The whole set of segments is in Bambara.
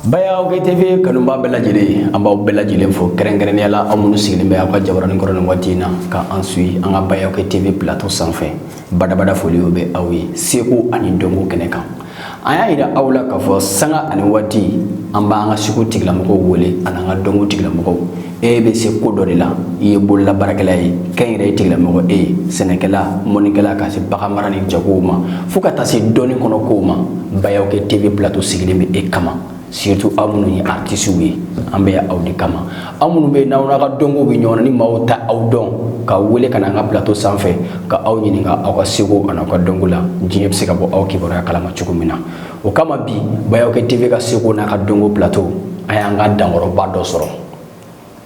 Baya OK TV kanubaa bɛɛ lajɛlen an b'aw bɛɛ lajɛlen fo kɛrɛnkɛrɛnnenya la aw minnu sigilen bɛ aw ka jabarani kɔrɔ nin waati in na ka an suivi an ka Baya OK TV plateau sanfɛ badabada foliw bɛ aw ye seko ani dɔnko kɛnɛ kan an y'a yira aw la k'a fɔ sanga ani waati an b'an ka seko tigilamɔgɔw wele an'an ka dɔnko tigilamɔgɔw e bɛ se ko dɔ de la i ye bolola baarakɛla ye kɛnyɛrɛye tigilamɔgɔ e ye sɛnɛkɛla mɔnikɛla ka se baganmara ni jagow ma fo ka taa se dɔnni kɔnɔ kow ma Baya OK TV plateau sigilen bɛ e kama surtout aw minnu ye artisiw ye an bɛ yan aw de kama aw minnu bɛ n'aw n'aw ka dɔnko bɛ ɲɔgɔn na ni maaw t'aw dɔn k'aw wele ka na an ka plateau sanfɛ ka aw ɲininka aw ka seko an'aw ka dɔnko la diɲɛ bɛ se ka bɔ aw kibaruya kalama cogo min na o kama bi Baya OK TV ka seko n'a ka dɔnko plateau an y'an ka dankɔrɔba dɔ sɔrɔ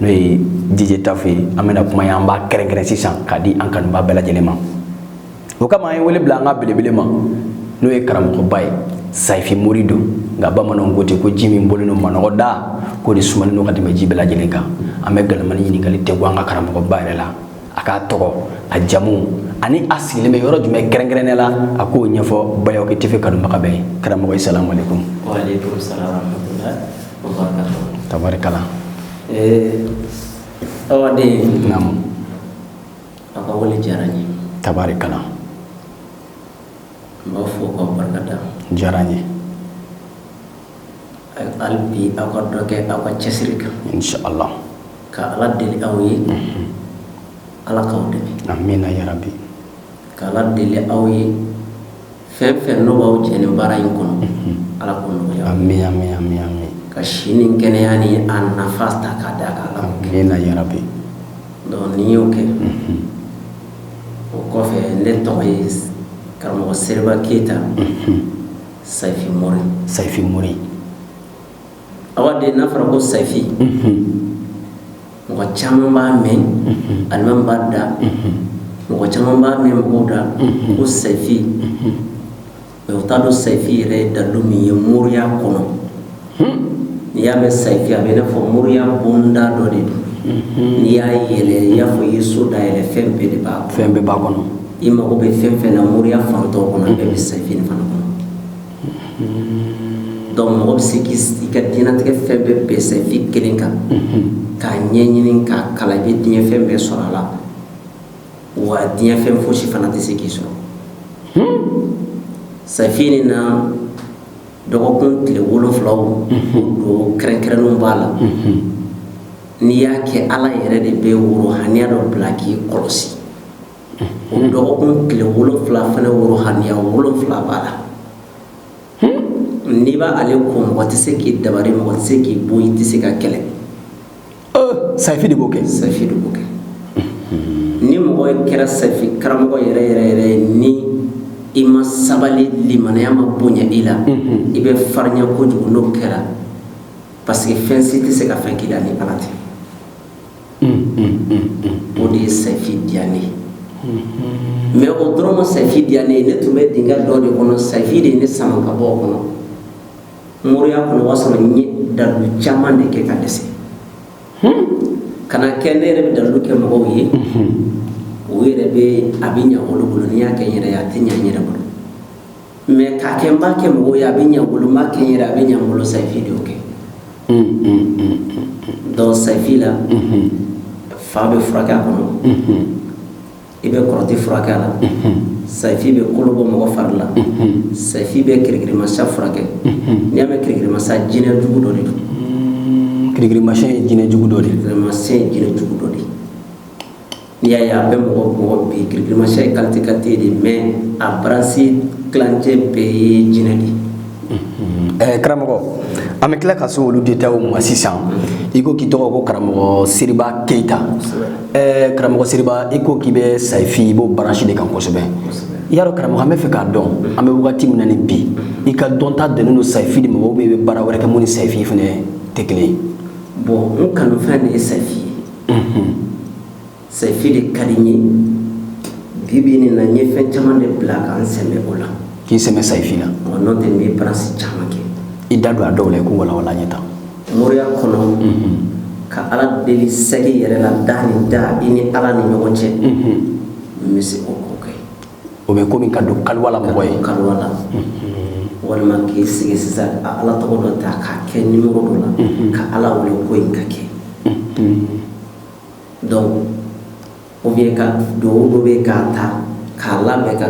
n'o ye DJ Tafu ye an bɛna kuma in an b'a kɛrɛnkɛrɛn sisan k'a di an kanubaa bɛɛ lajɛlen ma o kama an ye wele bila an ka belebele ma n'o ye karamɔgɔba ye sayifi mori don nka bamananw ko ten ko ji min bɔlen don manɔgɔ da k'o de sumalen don ka tɛmɛ ji bɛɛ lajɛlen kan an bɛ galamani ɲininkali tɛ bɔ an ka karamɔgɔba yɛrɛ la a k'a tɔgɔ a jamu ani a sigilen bɛ yɔrɔ jumɛn kɛrɛnkɛrɛnnen la a k'o ɲɛfɔ Baya OK TV kanubaga bɛɛ ye karamɔgɔ salamu aleykum tari kalan tari kalan diyara ye hali bi aw ka dɔ kɛ aw ka cɛsiri kan ala ka ala deli aw ye ala k'aw dɛmɛ ka ala deli aw ye fɛn fɛn n'o b'aw jɛ nin baara in kɔnɔ ala k'o nɔgɔya amin ka si ni kɛnɛya ni a nafa ta k'a d'a kan ala k'o kɛ amina yarabi donc n'i y'o kɛ o kɔfɛ ne tɔgɔ ye karamɔgɔ seriba keyita sayifi mori sayifi mori awa den n'a fɔra ko sayifi mɔgɔ caman b'a mɛn alimami b'a da mɔgɔ caman b'a mɛn mɔgɔw da ko sayifi mais u t'a dɔn sayifi yɛrɛ ye dalu min ye moriya kɔnɔ n'i y'a mɛn sayifi a bɛ i n'a fɔ moriya bonda dɔ de don n'i y'a yɛlɛ i y'a fɔ i ye so da yɛlɛ fɛn bɛɛ de b'a fɛn bɛɛ b'a kɔnɔ i mago bɛ fɛn fɛn na moriya fan tɔw kɔnɔ a bɛɛ bɛ sayifi fana kɔnɔ donc mɔgɔ bɛ se k'i ka diɲɛnatigɛ fɛn bɛɛ bɛn sayifi kelen kan k'a ɲɛɲini k'a kalan i bɛ diɲɛ fɛn bɛɛ sɔrɔ a la wa diɲɛ fɛn fosi fana tɛ se k'i sɔrɔ sayifi nin na dɔgɔkun tile wolonfula don kɛrɛnkɛrɛnnenw b'a la n'i y'a kɛ ala yɛrɛ de bɛ worohaniya dɔ bila k'i kɔlɔsi o dɔgɔkun tile wolonwula fana worohaniya wolonwula b'a la n'i b'ale ko mɔgɔ tɛ se k'i dabari mɔgɔ tɛ se k'i bon i tɛ se ka kɛlɛ sayifi de b'o kɛ sayifi de b'o kɛ ni mɔgɔ kɛra sayifi karamɔgɔ yɛrɛ yɛrɛ yɛrɛ ye ni i ma sabali limanaya ma bonya i la i bɛ farinya kojugu n'o kɛra parce que fɛn si tɛ se ka fɛn k'i la ni ala tɛ o de ye sayifi diya n ye mais o dɔrɔn ma sayifi diya ne ye ne tun bɛ dingɛ dɔ de kɔnɔ sayifi de ye ne sama ka bɔ o kɔnɔ moriya kɔnɔ o b'a sɔrɔ n ye dalu caman de kɛ ka dɛsɛ ka na kɛ ne yɛrɛ bɛ dalu kɛ mɔgɔw ye o yɛrɛ bɛ a bɛ ɲa olu bolo ni n y'a kɛ n yɛrɛ ye a tɛ ɲa n yɛrɛ bolo mais k'a kɛ n b'a kɛ mɔgɔw ye a bɛ ɲɛ n bolo n b'a kɛ n yɛrɛ a bɛ ɲɛ n bolo sayifi de y'o kɛ donc sayifi la fa bɛ furakɛ a kɔnɔ i bɛ kɔrɔti furakɛ a la sayifi bɛ kolo bɔ mɔgɔ fari la sayifi bɛ kirikirimasiyɛn furakɛ n'i y'a mɛn kirikirimasiyɛn jinɛ jugu dɔ de don kirikirimasiyɛn ye jinɛ jugu dɔ de ye kirikirimasiyɛn ye jinɛ jugu dɔ de ye n'i y'a ye a bɛ mɔgɔ mɔgɔ bin kirikirimasiyɛn ye kalite kalite de mais a baransi tilancɛ bɛɛ ye jinɛ de ye karamɔgɔ an bɛ tila ka se olu detaw ma sisan i ko k'i tɔgɔ ko karamɔgɔ seriba keyita karamɔgɔ seriba i ko k'i bɛ sayifi i b'o baransi de kan kosɛbɛ i y'a dɔn karamɔgɔ an b'a fɛ k'a dɔn an bɛ wagati min na nin bi i ka dɔnta dannen don sayifi de ma ou bien i bɛ baara wɛrɛ kɛ min ni sayifi fana tɛ kelen ye bon n kanufɛn de ye sayifi ye Sayifi de ka di n ye bi bi nin na n ye fɛn caman de bila ka n sɛmɛ o la k'i sɛmɛ sayifi la n'o tɛ n bɛ baransi caman kɛ i da don a dɔw la i k'u walawala n ye tan moriya kɔnɔ ka ala deli sɛ yɛrɛ la da ni da i ni ala ni ɲɔgɔn cɛ n bɛ se o ko kɛ o bɛ komi ka don kaliwa la mɔgɔ ye kaliwa la walima k'i sigi sisan ka ala tɔgɔ dɔ ta k'a kɛ nimɔrɔ dɔ la ka ala wele ko in ka kɛ donc ou bien ka duwawu dɔ bɛ k'a ta k'a labɛn ka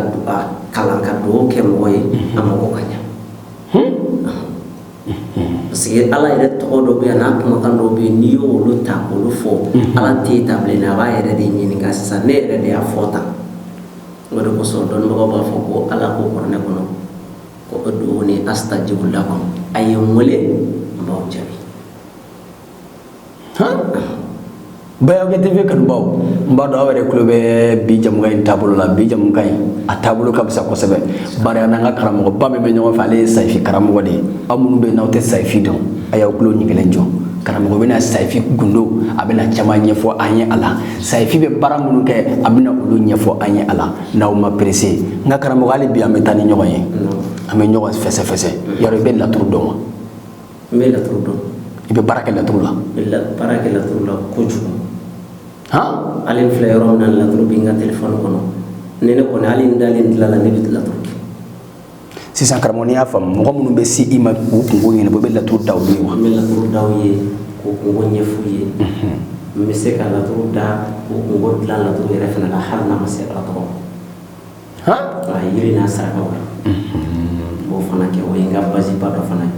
kalan ka duwawu kɛ mɔgɔ ye a mago ka ɲa parce que ala yɛrɛ tɔgɔ dɔ bɛ n'a kumakan dɔ bɛ yen n'i y'olu ta k'olu fɔ ala tɛ ta bilen a b'a yɛrɛ de ɲininka sisan ne yɛrɛ de y'a fɔ tan o de kosɔn dɔnnibagaw b'a fɔ ko ala ko kuranɛ kɔnɔ ko ud'uuni astajibu lakum a ye n weele n b'aw jaabi Bayɔkɛ TV kanubaw n b'a dɔn aw yɛrɛ tulo bɛ bi jamukan in taabolo la bi jamukan in a taabolo ka fisa kosɛbɛ bari an n'an ka karamɔgɔba min bɛ ɲɔgɔn fɛ ale ye sayifi karamɔgɔ de ye aw minnu bɛ yen n'aw tɛ sayifi dɔn a y'aw tulo ɲigilen jɔ karamɔgɔ bɛna sayifi gundo a bɛna caman ɲɛfɔ an ye a la sayifi bɛ baara minnu kɛ a bɛna olu ɲɛfɔ an ye a la n'aw ma perese nka karamɔgɔ hali bi an bɛ taa ni ɲɔgɔn ye an bɛ ɲɔgɔn fɛsɛfɛsɛ yarɔ i bɛ laturu dɔn wa n bɛ laturu dɔn i bɛ baara kɛ laturu la n bɛ baara kɛ laturu la kojugu han hali n filɛ yɔrɔ min na laturu bɛ n ka telefɔni kɔnɔ ni ne kɔni hali n dalen dilan la ne bɛ laturu kɛ sisan karamɔgɔ n'i y'a faamu mɔgɔ minnu bɛ se i ma k'u kungo ɲɛnabɔ i bɛ laturu da olu ye wa n bɛ laturu da u ye k'u kungo ɲɛf'u ye n bɛ se ka laturu da k'u kungo dilan laturu yɛrɛ fana la hali n'a ma se ala tɔgɔ ma yiri n'a sarakaw la n b'o fana kɛ o ye n ka basiba dɔ fana ye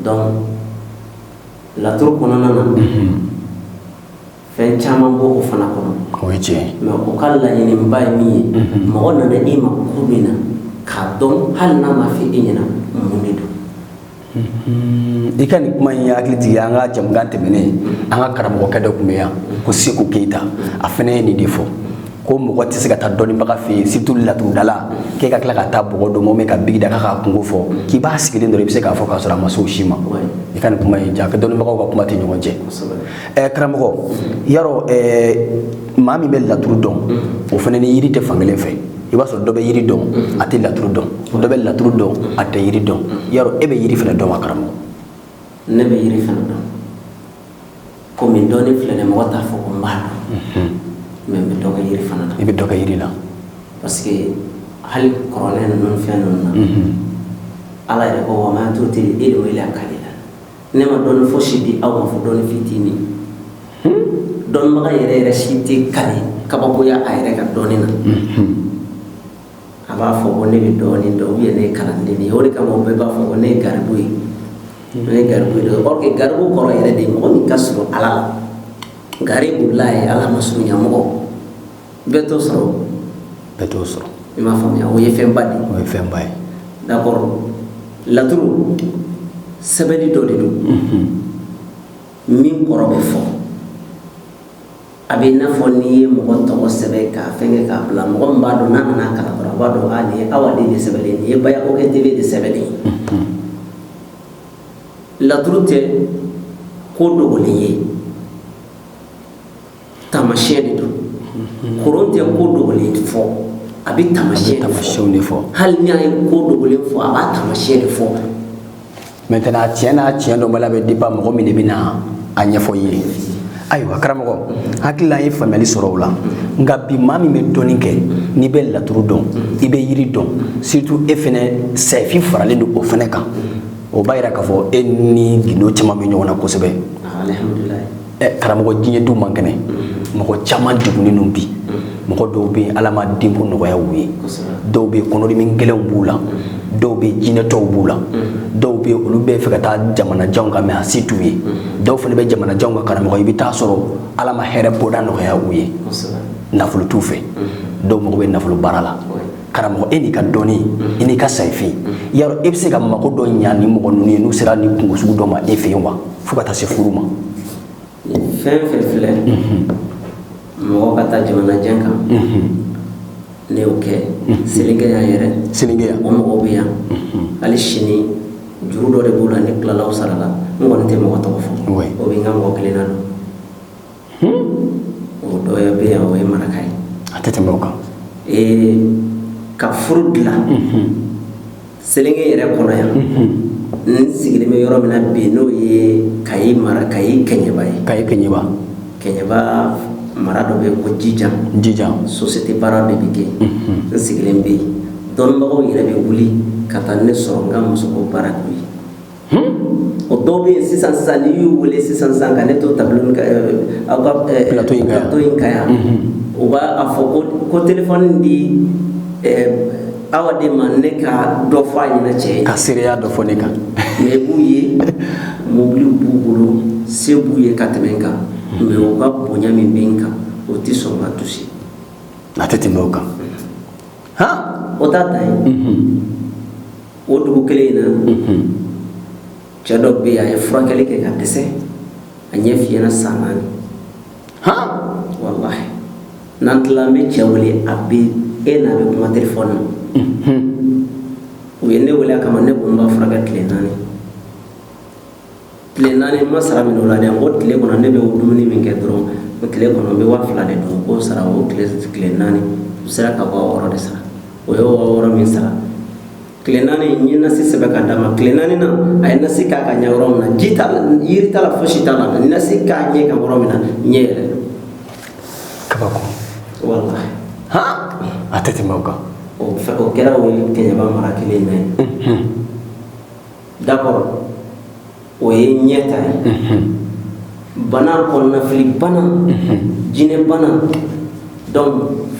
donc laturu kɔnɔna na fɛn caman b'o fana kɔnɔ o ye tiɲɛ ye mɛ o ka laɲiniba ye min ye mɔgɔ nana e ma ko min na k'a dɔn hali n'a m'a fɔ e ɲɛna mun de don i ka nin kuma in ye hakili jigin an ka jamukan tɛmɛnen an ka karamɔgɔkɛ dɔ tun bɛ yan ko seku keyita a fana ye nin de fɔ ko mɔgɔ tɛ se ka taa dɔnnibaga fɛ yen surtout laturudala k'e ka tila ka taa bɔgɔ dɔ mɔmɔ ka buguri da k'a kungo fɔ k'i b'a sigilen dɔrɔn i bɛ se k'a fɔ k'a sɔrɔ a ma se o si ma i ka nin kuma in jaka dɔnnibagaw ka kuma tɛ ɲɔgɔn cɛ ɛɛ karamɔgɔ yarɔ ɛɛ maa min bɛ laturu dɔn o fana ni yiri tɛ fankelen fɛ i b'a sɔrɔ dɔ bɛ yiri dɔn a tɛ laturu dɔn dɔ bɛ laturu dɔn a tɛ yiri dɔn yarɔ e bɛ yiri fana dɔn wa karamɔgɔ ne bɛ yiri fana dɔn komi dɔnni filɛ dɛ mɔgɔ t'a fɔ ko n b'a dɔn mhm. mɛ n bɛ dɔ kɛ yiri fana na i bɛ dɔ kɛ yiri la parce que hali kɔrɔlen ninnu fɛn ninnu na mhm. ala yɛrɛ ko wa ma tuuti ilmu ila kalila Ne ma dɔnni fosi di aw ma fo dɔnni fitinin dɔnbaga yɛrɛ yɛrɛ si tɛ kali kabakoya a yɛrɛ ka dɔnni na a b'a fɔ ko ne bɛ dɔɔnin dɔn u ye ne kalanden ye o de kama bɛɛ b'a fɔ ko ne ye garibu ye ne ye garibu ye or que garibu kɔrɔ yɛrɛ de mɔgɔ min ka surun ala la garibulahi ala masurunya mɔgɔ bɛɛ t'o sɔrɔ bɛɛ t'o sɔrɔ i m'a faamuya o ye fɛnba de o ye fɛnba ye d'accord laturu sɛbɛnni dɔ de don mhm. min kɔrɔ bɛ fɔ a bɛ i n'a fɔ n'i ye mɔgɔ tɔgɔ sɛbɛn k'a fɛngɛ k'a bila mɔgɔ min b'a dɔn n'a nana kalan dɔrɔn a b'a dɔn a nin ye awa den de sɛbɛnlen nin ye bayakokɛ tele de sɛbɛnlen mhm. laturu tɛ ko dogolen ye Tamasiyɛn de don koron tɛ ko dogolen fɔ a bɛ tamasiyɛn de fɔ tamasiyɛnw de fɔ hali n'a ye ko dogolen fɔ a b'a tamasiyɛn de fɔ maintenant tiɲɛ n'a tiɲɛ dɔnbaliya bɛ dépend mɔgɔ min de bɛna a ɲɛfɔ i ye ayiwa karamɔgɔ hakili la an ye faamuyali sɔrɔ o la nka bi maa min bɛ dɔnni kɛ n'i bɛ laturu dɔn i bɛ yiri dɔn surtout e fɛnɛ sayifi faralen don o fɛnɛ kan o b'a yira k'a fɔ e ni gindo caman bɛ ɲɔgɔn na kosɛbɛ alhamdulilayi ɛ karamɔgɔ diɲɛ dun man kɛnɛ mɔgɔ caman degunnen don bi mɔgɔ dɔw bɛ yen ala ma denko nɔgɔya u ye dɔw bɛ yen kɔnɔdimi gɛlɛnw b'u la dɔw bɛ yen jinɛtɔw b'u la dɔw bɛ yen olu bɛ fɛ ka taa jamanajanw kan mais a se t'u ye dɔw fana bɛ jamanajanw kan karamɔgɔ i bɛ taa sɔrɔ ala ma hɛrɛ bɔda nɔgɔya u ye nafolo t'u fɛ dɔw mago bɛ nafolo baara la karamɔgɔ e n'i ka dɔnni i n'i ka sayifi yarɔ e bɛ se ka mago dɔ ɲa nin mɔgɔ ninnu ye n'u sera nin kunko sugu dɔ ma e fɛ yen wa fo ka taa se furu ma fɛn fɛn filɛ mɔgɔ ka taa jamanajan kan ne y'o kɛ selenge yan yɛrɛ selenge yan o mɔgɔw bɛ yan hali sini juru dɔ de b'u la ne tilala o sara la n kɔni tɛ mɔgɔ tɔgɔ fɔ o bɛɛ n ka mɔgɔ kelenna don o dɔ bɛ yan o ye maraka ye a tɛ tɛmɛ o kan ka furu dilan selenge yɛrɛ kɔnɔ yan n sigilen bɛ yɔrɔ min na bi n'o ye kayi mara kayi kɛɲɛba ye kayi kɛɲɛba kɛɲɛba mara dɔ bɛ yen ko jijan jijan société baara de bɛ kɛ n sigilen bɛ yen dɔnnibagaw yɛrɛ bɛ wuli ka taa ne sɔrɔ n ka musoko baara k'u ye o dɔw bɛ yen sisan sisan n'i y'u wele sisan sisan ka ne to tableau in kan aw ka plateau in kan plateau in kan yan u b'a fɔ ko ko téléphone di awa de ma ne ka dɔ fɔ a ɲɛna cɛ ye ka seereya dɔ fɔ ne kan moyen b'u ye mobiliw b'u bolo se b'u ye ka tɛmɛ n kan mais u ka bonya min bɛ n kan o tɛ sɔn ka toucher a tɛ tɛmɛ o kan han o t'a dan ye o dugu kelen in na cɛ dɔ bɛ yen a ye furakɛli kɛ ka dɛsɛ a ɲɛ fiyɛna san naani walahi n'an tila an bɛ cɛ wele a bɛ e n'a bɛ kuma telefɔni na u ye ne wele a kama ne ko n b'a furakɛ tile naani tile naani ma sara min o la dɛ o tile kɔnɔ ne bɛ o dumuni min kɛ dɔrɔn o tile kɔnɔ n bɛ waa fila de dun k'o sara o tile tile naani u sera ka waa wɔɔrɔ de sara o ye waa wɔɔrɔ min sara tile naani n ye nasi sɛbɛn ka d'a ma tile naani na a ye nasi k'a ka ɲɛ yɔrɔ min na ji t'a la yiri t'a la fosi t'a la nasi k'a ɲɛ kan yɔrɔ min na ɲɛ yɛrɛ kabako wallahi a tɛ tɛmɛ o kan o kɛra o ye kɛɲɛba mara kelen in na ye D'accord o ye ɲɛ ta ye. Unhun. Bana kɔnɔnafili bana. Unhun. Jinɛ bana donc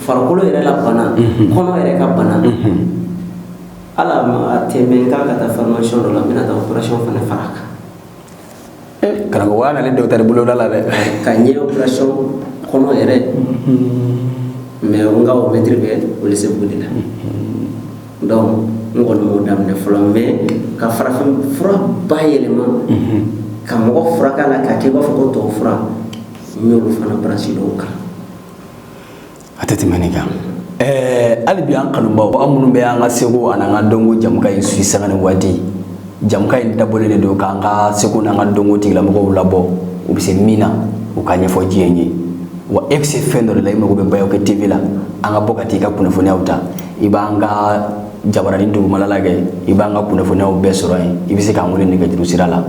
farikolo yɛrɛ la bana. Unhun. Kɔnɔ yɛrɛ ka bana. Unhun. Hali a ma a tɛ mɛɛn n k'a ka taa formation dɔ la, n bɛna taa operation fana fara a kan. karamɔgɔya nalen dɔgɔtɔrɔ boloda la dɛ ka ɲɛ operation kɔnɔ yɛrɛ mais n ka o mɛtiri bɛ welesebugu de la donc n kɔni m'o daminɛ fɔlɔ mais ka farafin fura bayɛlɛma ka mɔgɔ furakɛ a la k'a kɛ i b'a fɔ ko tubabu fura n y'olu fana branche dɔw kalan a tɛ tɛmɛ nin kan ɛɛ hali bi an kanubaw aw minnu bɛ an ka seko ani an ka dɔnko jamukan in suit sanga ni waati jamukan in dabɔlen de don k'an ka seko n'an ka dɔnko tigilamɔgɔw labɔ u bɛ se min na u ka ɲɛfɔ diɲɛ ye wa e bɛ se fɛn dɔ de la i mago bɛ bayɔkɛ tv la an ka bɔ ka t'i ka kunnafoniyaw ta i b'an ka jabaranin dugumala lajɛ i b'an ka kunnafoniyaw bɛɛ sɔrɔ yen i bɛ se k'an wele nɛgɛjuru sira la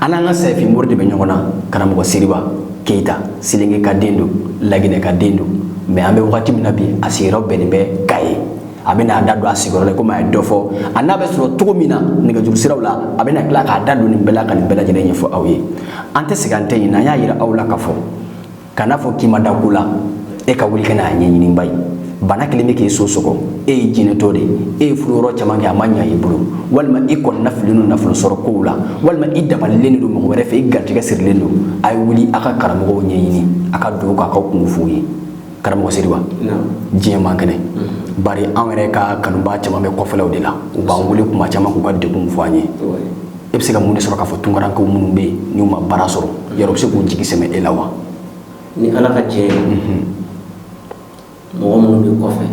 an n'an ka sayifi mori de bɛ ɲɔgɔn na karamɔgɔ seriba keyita selenge ka den don laginɛ ka den don mais an bɛ wagati min na bi a sigiyɔrɔ bɛnnen bɛ kayi a bɛ n'a da don a sigiyɔrɔ la komi a ye dɔ fɔ a n'a bɛ sɔrɔ cogo min na nɛgɛjuru siraw la a bɛna tila k'a da don nin bɛɛ la ka nin bɛɛ lajɛlen ɲɛfɔ aw ye an tɛ segin an tɛ ɲinɛ an y'a yira aw la k'a fɔ kana fɔ k'i ma da ko la e ka wuli ka n'a ɲɛɲini ba ye bana kelen bɛ k'i so sɔgɔ e ye jinɛtɔ de ye e ye furu yɔrɔ caman kɛ a ma ɲa i bolo walima i kɔnɔnafililen don nafolo sɔrɔ kow la walima i dabalilen de don mɔgɔ wɛrɛ fɛ i garijɛgɛ sirilen don a ye wuli a ka karamɔgɔw ɲɛɲini a ka don k'a ka kunko f'u ye karamɔgɔ seriba diɲɛ man kɛnɛ mm-hmm. bari an yɛrɛ ka kanubaa caman bɛ kɔfɛlaw de la u b'an wele tuma caman k'u ka degun fɔ an ye e bɛ se ka mun de sɔrɔ k'a fɔ tunkarankɛw minnu bɛ yen n'u ma baara sɔrɔ yɛrɛ u bɛ se k'u jigi sɛmɛ e la wa ni ala ka jɛn mɔgɔ minnu bɛ kɔfɛ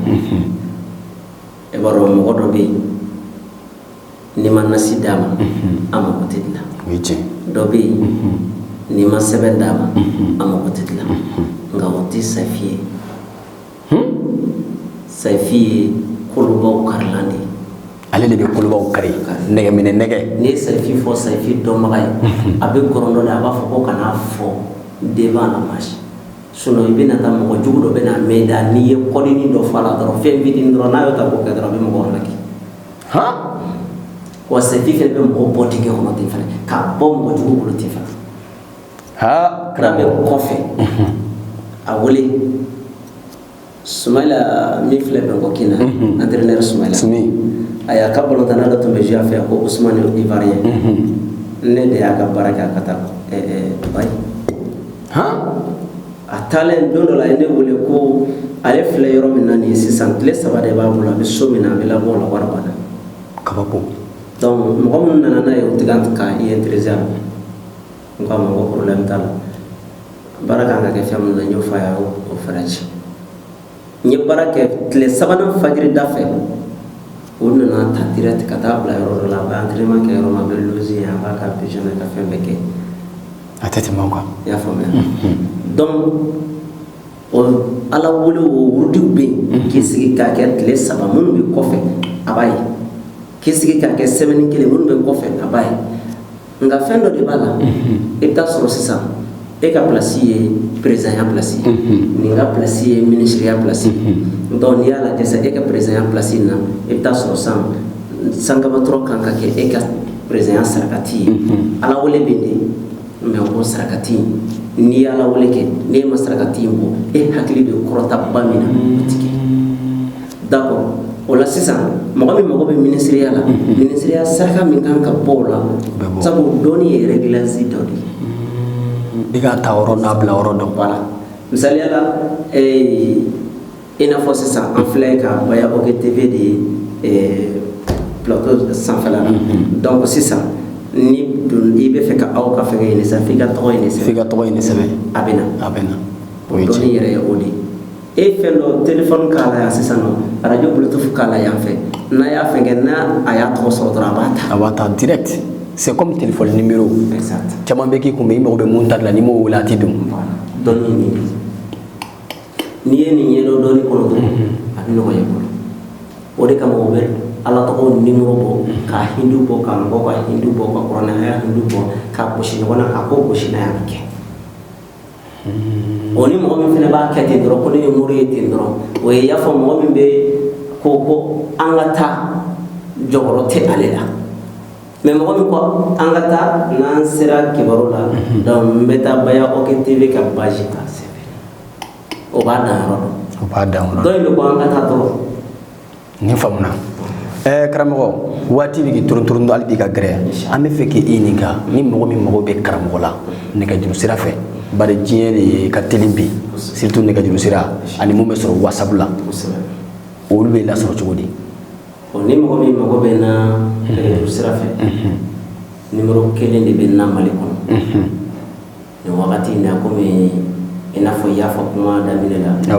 e b'a dɔn mɔgɔ dɔ bɛ yen n'i ma nasi d'a ma a mako tɛ dilan dɔ bɛ yen n'i ma sɛbɛn d'a ma a mako tɛ dilan nka o tɛ sayifi ye Sayifi ye kolobaw karilan de ye ale de bɛ kolobaw kari nɛgɛminɛ nɛgɛ n'i ye Sayifi fɔ Sayifi dɔnbaga ye a bɛ kɔrɔdɔ la a b'a fɔ ko kana fɔ den la sinon i bɛna taa mɔgɔ jugu dɔ bɛna mɛn da n'i ye kɔdini dɔ fɔ a la dɔrɔn fɛn fitinin dɔrɔn n'a y'o ta k'o kɛ dɔrɔn a bɛ mɔgɔ laki wa Sayifi fana bɛ mɔgɔ bɔ dingɛ kɔnɔ ten fana k'a bɔ mɔgɔ jugu bolo ten fana ha kira bɛ kɔfɛ a wele sumayila min filɛ Bangkok na entraîneur sumayila a y'a ka balontanna dɔ tun bɛ jouer a fɛ ko Ousmane Ivoirien ne de y'a ka baara kɛ a ka taa Dubaï a taalen don dɔ la a ye ne wele ko ale filɛ yɔrɔ min na nin ye sisan tile saba de b'a bolo a bɛ so min na a bɛ labɔ o la wari banna kabako dɔnku mɔgɔ minnu nana n'a ye o tɛ ka i intéresser N k'a ma ko problème t'a la baara kan ka kɛ fɛn min na n y'o fɔ a y' o fɛɛrɛ ci n ye baara kɛ tile sabanan fajiri da fɛ o nana ta direct ka taa bila yɔrɔ la a kɛ yɔrɔ min a bɛ si a b'a ka ka fɛn bɛɛ kɛ a tɛ tɛmɛ kan i y'a faamuya donc o ala wele o wurudiw bɛ yen k'i sigi k'a kɛ tile saba minnu bɛ kɔfɛ a b'a ye k'i sigi k'a kɛ semaine kelen minnu bɛ kɔfɛ a b'a ye nka fɛn dɔ de b'a la i bɛ taa sɔrɔ sisan e ka plasi ye perezidanya plasi nin ka plasi ye minisiriya plasi dɔnku n'i y'a lajɛ sisan e ka perezidanya plasi na i bɛ taa sɔrɔ san sankamatɔ kan ka kɛ e ka perezidanya sarakati ye ala wele bɛ de mɛ o sarakati n'i ye ala wele kɛ n'e ma sarakati in bɔ e hakili bɛ kɔrɔtaba min na o tɛ kɛ D'accord o la sisan mɔgɔ min mago bɛ minisiriya la minisiriya saraka min kan ka bɔ o la sabu dɔnni ye réglage dɔ de ye i ka ta yɔrɔ n'a bila yɔrɔ dɔn voilà misali la i n'a fɔ sisan an filɛ Kabako TV de plateau sanfɛ la donc sisan ni don i bɛ fɛ ka aw ka fɛn ɲini i ka tɔgɔ ɲini i ka tɔgɔ ɲini sɛbɛn a bɛ a bɛ o ye dɔnni yɛrɛ ye o de ye e fɛn dɔ telefɔni k'a la yan sisan nɔ arajo bluetooth k'a la yan fɛ n'a y'a fɛn kɛ n'a a y'a tɔgɔ sɔrɔ dɔrɔn a b'a ta a b'a ta direct c'est comme téléphone numéro exact caman bɛ k'i kun i mago bɛ min ta la n'i m'o wele a tɛ don dɔnni nin n'i ye nin ɲɛdɔn dɔnni kɔnɔ dɔrɔn a bɛ nɔgɔya i bolo o de kama u bɛ ala tɔgɔw nimoro bɔ ka hindu bɔ ka mɔgɔw ka hindu bɔ ka kuranɛ aya hindu bɔ ka gosi ɲɔgɔn na k'a ko gosi n'a y'a kɛ o ni mɔgɔ min fana b'a kɛ ten dɔrɔn ko ne ye mori ye ten dɔrɔn o ye i y'a fɔ mɔgɔ min bɛ ko ko an ka taa jɔyɔrɔ tɛ ale la mais mɔgɔ min ko an ka taa n'an sera kibaru la mhm. donc n bɛ taa Baya OG TV ka page ta sɛbɛn o b'a dan yɔrɔ dɔn o b'a dan yɔrɔ dɔn dɔ in bɛ ko an ka taa dɔrɔn nin faamuna ɛɛ karamɔgɔ waati bɛ k'i torotoro hali bi ka gɛrɛ an bɛ fɛ k'i ɲininka ni mɔgɔ min mago bɛ karamɔgɔ la nɛgɛjuru sira fɛ bari diɲɛ de ka teli bi surtout nɛgɛjuru sira ani mun bɛ sɔrɔ whatsapp la olu bɛ lasɔrɔ cogo di ni mɔgɔ min mago bɛ n na nɛgɛjuru sira fɛ nimero kelen de bɛ n na Mali kɔnɔ nin wagati in na komi i n'a fɔ i y'a fɔ kuma daminɛ la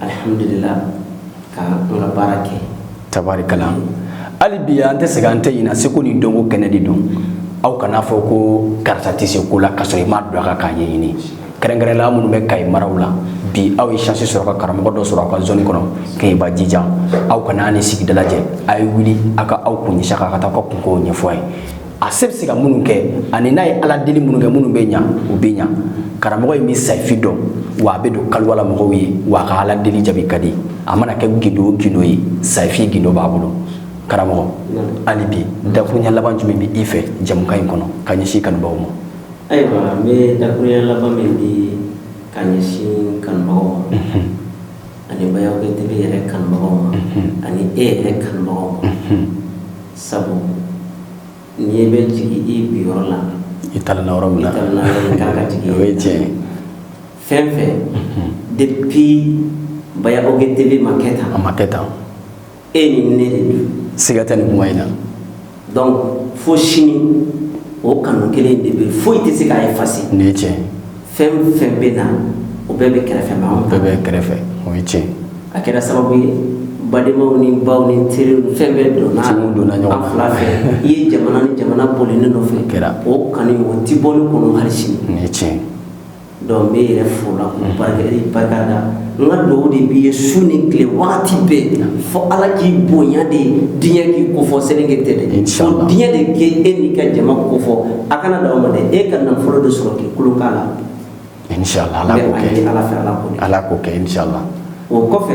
alihamdulila ka n ka baara kɛ tabarikala hali bi an tɛ sɛgɛn an tɛ ɲinɛ seko ni dɔnko kɛnɛ de don aw kan'a fɔ ko karisa tɛ se ko la ka sɔrɔ i ma don a kan k'a ɲɛɲini kɛrɛnkɛrɛnnenya minnu bɛ Kayi maraw la bi aw ye chance sɔrɔ ka karamɔgɔ dɔ sɔrɔ aw ka zone kɔnɔ Kɛɲɛba Jijan aw kana ni sigida lajɛ a ye wuli aw ka aw kun ɲɛsin a kan ka taa aw ka kunko ɲɛfɔ a ye a se bɛ se ka minnu kɛ ani n'a ye ala deli minnu kɛ minnu bɛ ɲa u bɛ ɲa karamɔgɔ in bɛ sayifi dɔn wa a bɛ don kaliwa la mɔgɔw ye wa a ka ala deli jaabi ka di a mana kɛ gindo o gindo ye sayifi gindo b'a bolo karamɔgɔ hali bi dakuruɲɛ laban jumɛn bɛ i fɛ jɛmukan in kɔnɔ ka ɲɛsin kanubaaw ma ayiwa n bɛ dakuruɲɛ laban min di ka ɲɛsin kanubagaw ma ani Baya OG TV yɛrɛ kanubagaw ma ani e yɛrɛ kanubagaw ma sabu n'i bɛ jigin i bin yɔrɔ la i talonna yɔrɔ min na kan ka jigin o ye tiɲɛ fɛn fɛn depuis Baya OG TV ma kɛ tan a ma kɛ tan e ni ne de don siga tɛ nin kuma in na donc fo sini o kanu kelen de bɛ foyi tɛ se k'a effacer nin ye tiɲɛ fɛn fɛn bɛ na o bɛɛ bɛ kɛrɛfɛ mais bɛɛ bɛ kɛrɛfɛ o ye tiɲɛ a kɛra sababu ye badenmaw ni baw ni teriw ni fɛn bɛɛ donna Ciw donna ɲɔgɔn na. an fila fɛ i ye jamana ni jamana boli ne nɔfɛ Kɛra. o kanu o ti bɔ ne kɔnɔ hali sini nin ye tiɲɛ Donc n b'e yɛrɛ fo la k'u barika i barika da n ka dugawu de b'i ye su ni tile waati bɛɛ fo Ala k'i bonya de diɲɛ k'i kofɔ seleke tɛ dɛ inchallah diɲɛ de k'e n'i ka jama kofɔ a kana dan o ma dɛ e ka nafolo de sɔrɔ k'i kulo k'a la inchallah Ala k'o kɛ Ala fɛ Ala k'o kɛ inchallah o kɔfɛ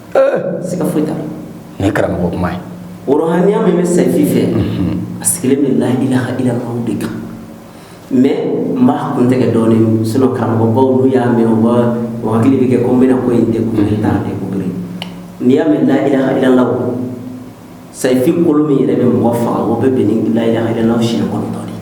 siga foyi t'a la nin ye karamɔgɔ kuma ye o rohaniya min bɛ sayifi fɛ a sigilen bɛ la ilaha illallah de kan mais n b'a kun tɛgɛ dɔɔnin sinon karamɔgɔbaw n'u y'a mɛn u b'a u hakili bɛ kɛ ko n bɛna ko in découvrir n t'a découvrir n'i y'a mɛn la ilaha illallah sayifi kolo min yɛrɛ bɛ mɔgɔ faga o bɛ bɛn ni la ilaha illallah siɲɛ kɔnɔntɔn de ye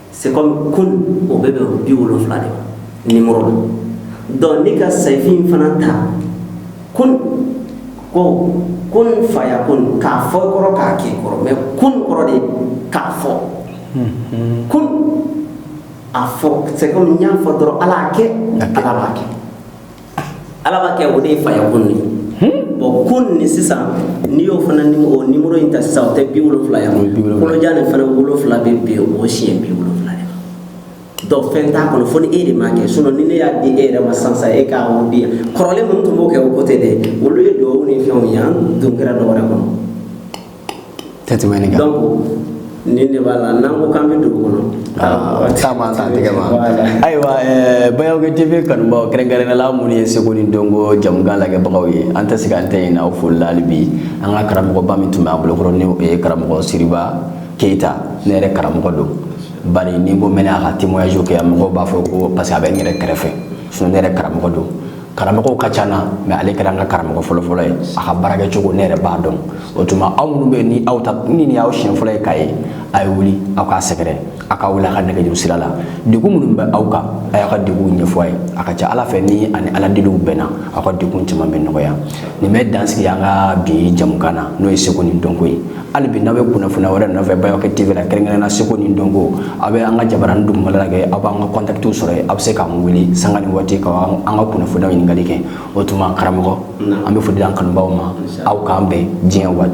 C'est comme kun o bɛ bɛn 70 de ma numéro la donc ne ka sayifin fana ta kun ko kun fayakun k'a fɔ i kɔrɔ k'a kɛ i kɔrɔ mais kun kɔrɔ de k'a fɔ kun a fɔ c'est comme n y'a fɔ dɔrɔn Ala y'a kɛ Ala b'a kɛ Ala b'a kɛ o de ye fayakun ye bon kun nin sisan n'i y'o fana o numéro in ta sisan o tɛ bi wolowula ye kolojan nin fana wolowula bɛ bɛn o siɲɛ bi wolowula ma donc fɛn t'a kɔnɔ fo ni e de m'a kɛ sinon ni ne y'a di e yɛrɛ ma sisan e k'a di yan kɔrɔlen minnu tun b'o kɛ o ko tɛ dɛ olu ye dugawu ni fɛnw ye an dun kɛra dɔ wɛrɛ kɔnɔ tɛ tɛmɛ nin kan nin de b'a la n'an ko k'an bɛ dugu kɔnɔ taama t'an tɛgɛ ma ayiwa bayawukɛ tv kanubaaw kɛrɛnkɛrɛnnenya la minnu ye seko ni dɔnko jamukan lagɛbagaw ye an tɛ sɛgɛn an tɛ ɲinɛ aw foli la hali bi an ka karamɔgɔba min tun bɛ an bolokɔrɔ ni o ye karamɔgɔ siriba keyita ne yɛrɛ karamɔgɔ don bari ni n ko n bɛna a ka témoignage kɛ mɔgɔw b'a fɔ ko parce que a bɛ n yɛrɛ kɛrɛfɛ sinon ne yɛrɛ karamɔgɔ don karamɔgɔw ka ca n na mais ale kɛra an ka karamɔgɔ fɔlɔfɔlɔ ye a ka baarakɛ cogo ne yɛrɛ b'a dɔn o tuma aw minnu bɛ ni aw ta ni nin y'aw siɲɛ fɔlɔ ye k'a ye a ye wuli aw k'a sɛgɛrɛ a k'a wele a ka nɛgɛjuru sira la degun minnu bɛ aw kan a y'a ka degunw ɲɛfɔ a ye a ka ca ala fɛ ni ani ala deliw bɛnna aw ka degun caman bɛ nɔgɔya nin bɛ dan sigi an ka bi jamukan na n'o ye seko ni dɔnko ye hali bi n'a bɛ kunnafoniya wɛrɛ nɔfɛ bayɔkɛ tv la kɛrɛnkɛrɛnna seko ni dɔnko aw bɛ an ka jabaranin dugumala lajɛ aw b'an ka kɔntakitiw sɔrɔ yen aw bɛ se k'an wele sanga ni waati ka an ka kunnafoniyaw ɲininkali kɛ o tuma karamɔgɔ an bɛ foli di an kanubaw ma aw k'an bɛn diɲɛ waati